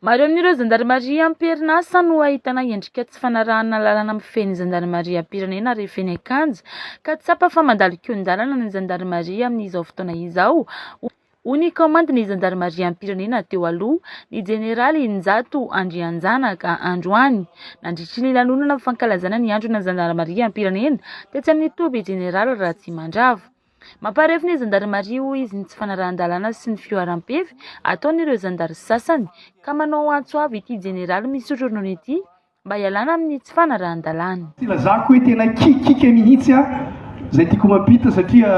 Maro amin'ireo zandarimaria am-perinasa no ahitana endrika tsy fanarahana lalana mifehy ny zandarimariam-pirenena ary feno an-kanja ka tsapa fa mandalo kihon-dalana ny zandarimaria amin'izao fotoana izao, hoy ny kaomandin'ny zandarimariam-pirenena teo aloha, ny jeneraly Njato Andrianjanaka, androany, nandritry ny lanonana fankalazana ny andron'ny zandarimariam-pirenena tetsy amin'ny toby jeneraly Ratsimandrava. Mamparefo ny zandarimaria hoy izy ny tsy fanarahan-dalàna sy ny fihoaram-pefy ataon'ireo zandary sasany ka manao antso avo ity jeneraly misotro ronono ity mba hialana amin'ny tsy fanarahan-dalàna. Tsy ilazako hoe tena kikikika mihitsy aho izay tiako mampita satria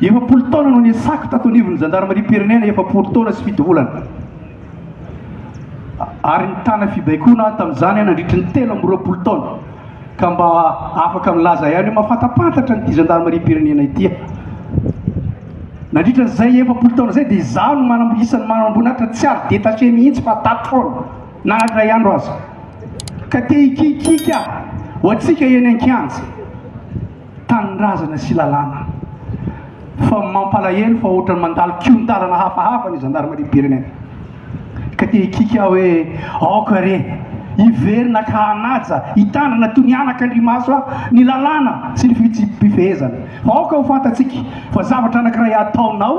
efapolo taona no niasako tato anivon'ny zandarimariam-pirenena, efapolo taona sy fito volana, ary nitana fibaikoana aho tamin'izany nandritry ny telo amby roapolo taona. Ka mba afaka milaza ihany hoe mahafantampantatra an'ity zandarimariam-pirenena ity aho. Nandritra izay efapolo taona izay dia izaho no manam- isan'ny manamboninahitra tsy ary détaché mihitsy fa tato foana na iray andro aza. Ka te hikiakiaka aho ho antsika eny an-kianja. tanindrazana sy lalàna. Fa mampalahelo fa ohatran'ny mandalo kihon-dalana hafahafa ny zandarimariam-pirenena. Ka te hikiky aho hoe aoka re hiverina ka hanaja, hitandrina toy ny anaka andrimaso aho ny lalàna sy ny fihetsi-pifehezana. Fa aoka ho fantatsika fa zavatra anankiray ataonao,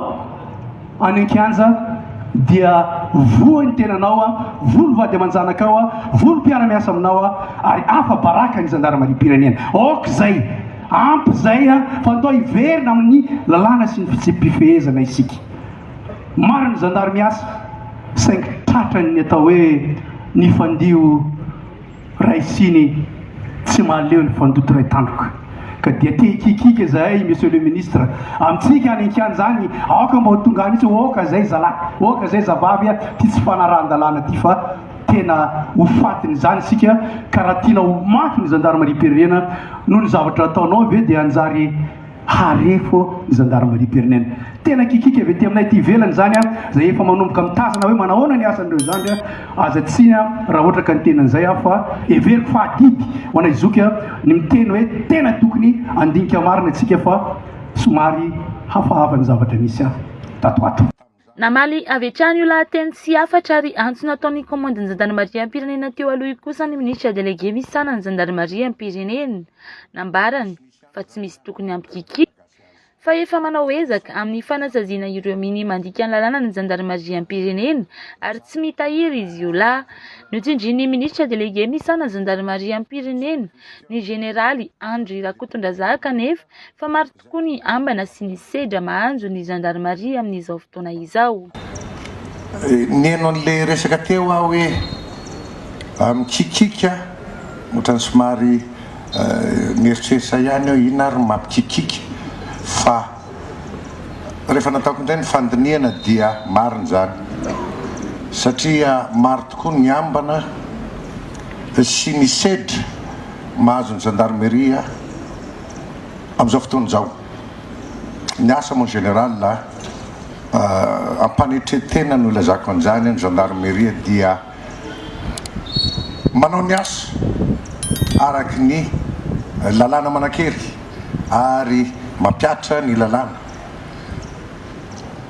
Any an-kianja dia voa ny tenanao a, voa ny vady aman-janakao a, voa ny mpiara-miasa aminao a, ary afa-baraka ny zandarimariam-pirenena. Ok izay, ampy izay a, fa andao hiverina amin'ny lalàna sy ny fitsipi-pifehezana isika. Marina ny zandary miasa, saingy tratran'ny atao hoe nifandio. Ray Siny, Tsy mahaleo ny fandoto ray tandroka ka dia te hikiakiaka izahay Monsieur le Ministre, amintsika any an-kianja any aoka mba ho tonga any mihitsy oka izay zalahy, oka izay zavavy a! ity tsy fanarahan-dalàna ity fa tena ho fatiny izany isika ka raha tianao ho mafy ny Zandarimariam-pirenena noho ny zavatra ataonao ve dia hanjary Harefo Gendarmerie Pernen. Tena kikika avy aty aminay aty ivelany izany izay efa manomboka mitazana hoe manahoana ny asan'ireo zandry aza tsiny raha ohatra ka ny tena an'izay aho fa heveriko fa adidy ho anay zoky ny miteny hoe tena tokony handinika marina isika fa somary hafahafa ny zavatra nisy tato ato. Namaly avy hatrany io lahateny tsy hafatra ary antso nataon'ny kaomandin'ny zandarimariam-pirenena teo aloha io kosa ny minisitra delege misahana ny zandarimariam-pirenena. Nambarany fa tsy misy tokony hampikikiaka fa efa manao ezaka amin'ny fanasaziana ireo minia mandika ny lalàna ny zandarimariam-pirenena ary tsy mitahiry izy io lahy. Notsindrin'ny minisitra delege misahana ny zandarimariam-pirenena, ny jeneraly Andry Rakotondrazaka anefa fa maro tokoa ny ambana sy ny sedra mahanjo ny zandarimaria amin'izao fotoana izao. Niheno an'ilay resaka teo aho hoe mikikiaka, ohatran'ny somary nieritreritra ihany aho hoe inona ary ny mampikikiaka fa rehefa nataoko indray ny fandinihana dia marina izany satria maro tokoa ny ambana sy ny sedra mahazo ny zandarimaria Amin'izao fotoana izao, ny asa moa en général, am-panetren-tena no ilazako an'izany, ny gendarmerie dia manao ny asa araka ny lalàna manan-kery ary mampihatra ny lalàna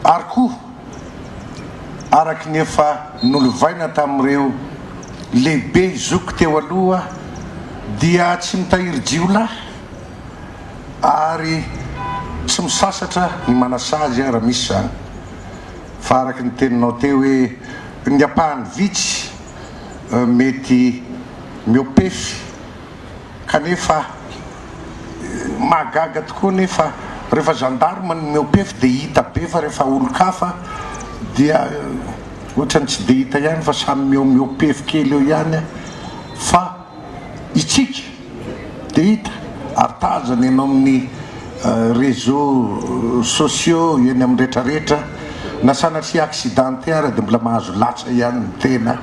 ary koa, araka ny efa nolovaina tamin'ireo lehibe zoky teo aloha, dia tsy mitahiry jiolahy ary tsy misasatra ny manasazy aho raha misy izany, fa araka ny teninao teo hoe ny ampahany vitsy mety miopefy. kanefa mahagaga tokoa anefa rehefa gendarme no mihoa-pefy dia hita be fa rehefa olon-kafa dia ohatran'ny tsy dia hita ihany fa samy mihoa-pefy kely eo ihany fa isika dia hita ary tazana eny amin'ny réseaux sociaux eny amin'ny retraretra na sanatria accidenté ary dia mbola mahazo latsa ihany ny tena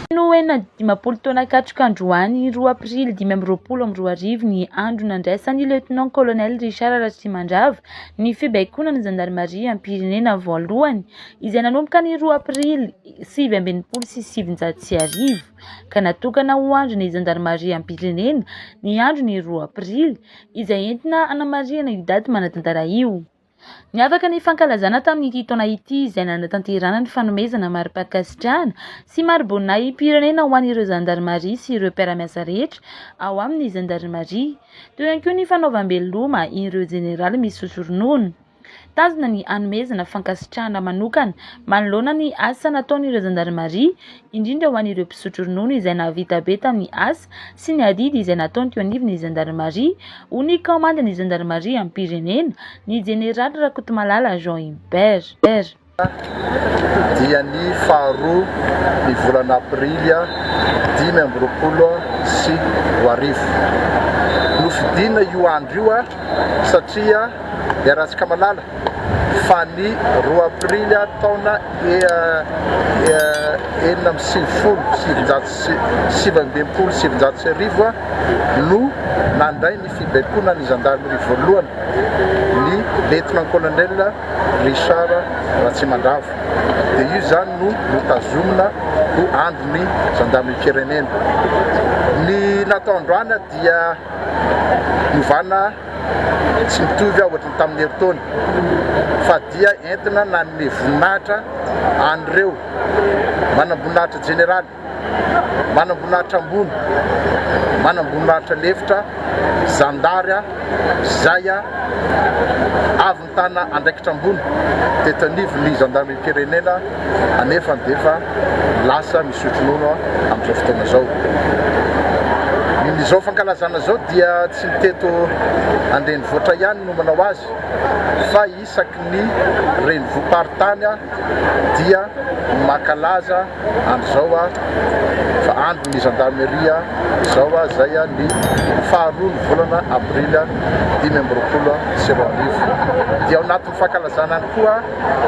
Feno ho eny amin'ny dimampolo taona katroka androany, roa aprily dimy amby roapolo amby roa arivo, ny andro nandraisan'ny lieutenant colonel Richard Ratrimandrava ny fibaikoana ny zandarimariam-pirenena voalohany, izay nanomboka ny roa aprily sivy amby enimpolo sy sivinjato sy arivo, ka natokana ho andron'ny zandarimariam-pirenena ny andron'ny roa aprily, izay entina hanamarihana io daty manan-tantara io. Niavaka ny fankalazana tamin'ity taona ity izay nanatanterahana ny fanomezana mari-pankasitrahana sy mari-boninahi-pirenena ho an'ireo zandarimaria sy ireo mpiara-miasa rehetra ao amin'ny zandarimaria. Teo ihany koa ny fanaovam-beloma ireo jeneraly misotro ronono. Tanjona ny hanomezana fankasitrahana manokana manoloana ny asa nataon'ireo zandarimaria. indrindra ho an'ireo mpisotro ronono izay nahavita be tamin'ny asa sy ny adidy izay nataony teo anivon'ny zandarimaria, hoy ny kaomandin'ny zandarimariam-pirenena, ny jeneraly Rakotomalala Jean Hubert. dia ny faharoa ny volana aprily dimy amby roapolo sy roa arivo. Nofidina io andro io. satria iarahantsika malala fa ny roa aprily taona enina amby sivifolo sy sivinjato sy sivy amby enimpolo sy sivinjato sy arivo no nandray ny fibaikoana ny zandarimaria voalohany, ny Lietnan-Kolonel Richard Ratsimandrava, dia io izany no notazomina ho Andron'ny Zandarimariam-pirenena. Ny natao androany dia. novana tsy mitovy ohatry ny tamin'ny herintaona fa dia entina nanome voninahitra an'ireo manamboninahitra jeneraly, manamboninahitra ambony, manamboninahitra lefitra, zandary, izay avy nanao. Ahitana andraikitra ambony teto anivon'ny zandarimariam-pirenena anefa dia efa lasa misotro nono amin'izao fotoana izao. Ny izao fankalazana izao dia tsy ny teto an-drenivohitra ihany no manao azy fa isaky ny renivohi-paritany dia mankalaza. andro zao a fa andro ny gendarmerie zao a zay a ny faharoa ny volana avril dimy amby roapolo sy roa arivo dia ao anatin'ny fankalazana any koa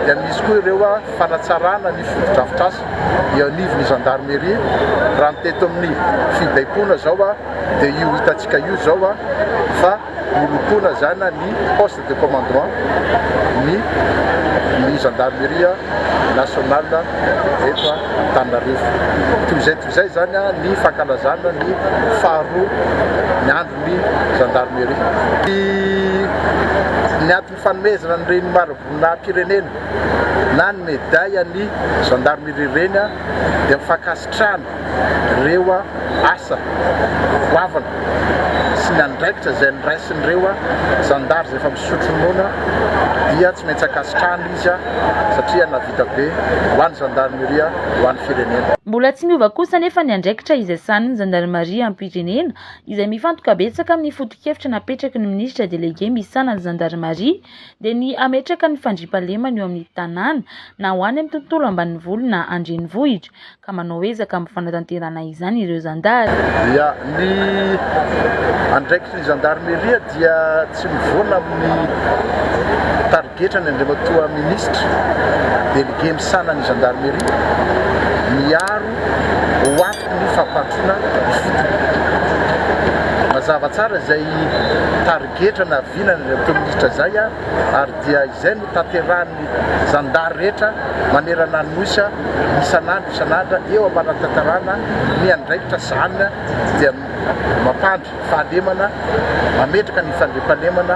dia misy koa ireo a fanatsarana ny fotodrafitrasa eo anivon'ny gendarmerie raha ny teto amin'ny fibaikoana zao a dia io hitantsika io zao a fa Nilotolazana ny poste de commandement ny ny gendarmerie nationale eto Antananarivo. Toy izay toy izay izany ny fankalazana ny faharoa ny andron'ny gendarmerie. Ny ny aty. Fanomezana ny Reny Marivoninahim-pirenena na ny Medaille an'ny Gendarmerie Reny dia ny fankasitrahana ireo asa goavana sy ny andraikitra izay niraisin'ireo Zandary izay efa misotro ronono dia tsy maintsy ankasitrahana izy satria nahavita be ho an'ny Gendarmerie, ho an'ny Firenena. Mbola tsy miova kosa anefa ny andraikitra izay sahanin'ny Zandarimaria am-pirenena izay mifantoka betsaka amin'ny foto-kevitra napetraky ny minisitra delege misahana ny zandarimaria, dia ny hametraka ny fandriampahalemana eo amin'ny tanàna, na ho any amin'ny tontolo ambanivolo na an-drenivohitra, ka manao ezaka amin'ny fanatanterahana izany ireo zandary. Ya, ny andraikitry ny zandarimeria dia tsy mivoana amin'ny tarigetina. Getra ny Andriamatoa Minisitra, Delege misahana ny Gendarmerie, miaro ho ato ny fampahatroana ifotony. Mazava tsara izay tarigetra naviana ny Andriamatoa Minisitra izay ary dia izay no tanterahan'ny Zandary rehetra manerana ny Nosy isan'andro isan'andra eo am-panatanterahana ny andraikitra izany dia mampandry fahalemana, mametraka ny fandriampahalemana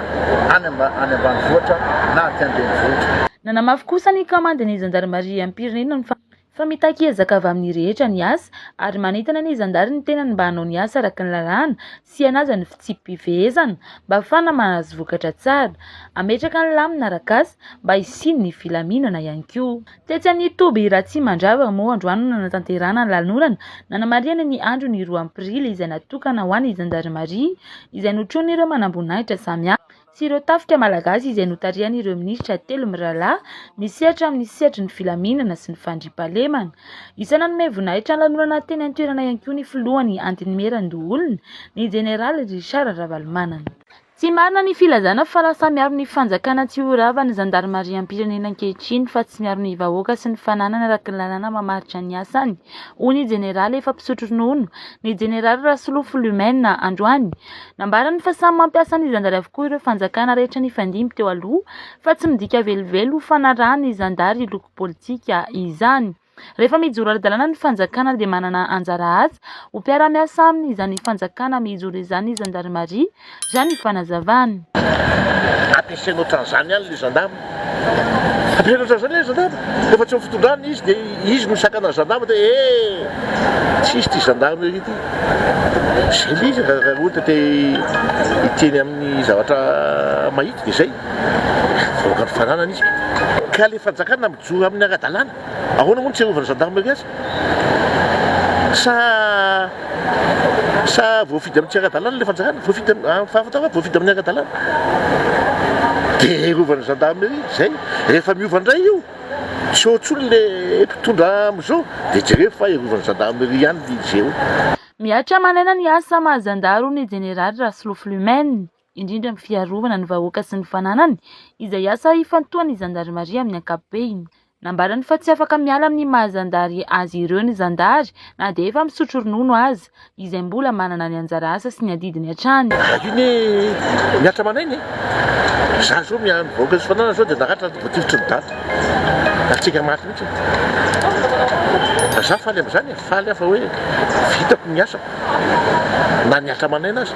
any any ambanivohitra na aty an-drenivohitra. Nanamafy kosa ny kamandin'ny zandarimariam-pirenena ny fa fa mitaky ezaka avy amin'ny rehetra ny asa ary manentana ny zandary ny tenany mba hanao ny asa araka ny lalàna sy hanaja ny fitsipi-pifehezana mba hafahana mahazo vokatra tsara, hametraka ny lamina arak'asa mba hisian'ny filaminana ihany koa. Tetsy amin'ny toby Ratsimandrava moa androany no nanatanterahana ny lanorana nanamarihana ny andron'ny roa aprily izay natokana ho an'ny zandarimaria izay notronin'ireo manamboninahitra samihafa sy ireo tafika malagasy izay notarihan'ireo minisitra telo mirahalahy misehatra amin'ny sehatry ny filaminana sy ny fandriampahalemana. Isan'ny nanome voninahitra ny lanorana teny an-toerana ihany koa ny filohan'ny Antenimierandoholona, ny jeneraly Richard Ravalomanana. Tsy marina ny filazana fa lasa miaro ny fanjakana tsy ho rava ny zandarimariam-pirenena ankehitriny fa tsy miaro ny vahoaka sy ny fananany araka ny lalàna mamaritra ny asany, hoy ny jeneraly efa mpisotro ronono, ny jeneraly Rasolofo Lumène, androany. Nambarany fa samy mampiasa ny zandary avokoa ireo fanjakana rehetra nifandimby teo aloha fa tsy midika velively ho fanarahan'ny zandary loko politika izany. Rehefa mijoro ara-dalàna ny fanjakana dia manana anjara asa ho mpiara-miasa aminy izany fanjakana mijoro izany ny zandarimaria, raha ny fanazavany. Ampiasaina ohatran'izany ihany ilay zandama. Ampiasaina ohatran'izany ilay zandama. Rehefa tsy eo amin'ny fitondrana ilay izy dia izy no misakana ny zandama hoe he! tsy hisy ity zandama irery ity. Izay ilay izy raha raha ohatra te hiteny amin'ny zavatra mahita dia izay. Vahoaka nofananana izy. Ka ilay fanjakana mijoro amin'ny ara-dalàna. Ahoana moa no tsy arovana gendarmerie aza? Sa sa voafidy amin'ny tsy ara-dalàna ilay fanjakana? Voafidy am- ah, fahafantarako hoe voafidy amin'ny ara-dalàna. Dia arovana ny gendarmerie, izay. Rehefa miova indray io, tsy eo intsony ilay mpitondra amin'izao, dia jereo fa arovana ny gendarmerie ihany ny GO. Mihatra manaina ny asa maha zandary hoy ny jeneraly Rasolofo Lumène. indrindra amin'ny fiarovana ny vahoaka sy ny fananany, izay asa ifantohan'ny zandarimaria amin'ny ankapobeny. Nambarany fa tsy afaka miala amin'ny maha zandary azy ireo ny zandary na dia efa misotro ronono aza, izay mbola manana ny anjara asa sy ny adidiny hatrany. Iny mihatra amanay iny e! Za zao miaro ny vahoaka sy fananany zao de naratra ny voatifitry ny daty. Nahatsiaka maty mihitsy e! Fa za faly amzany e! Faly aho fa hoe vitako ny asako. na ny ankamainana aza.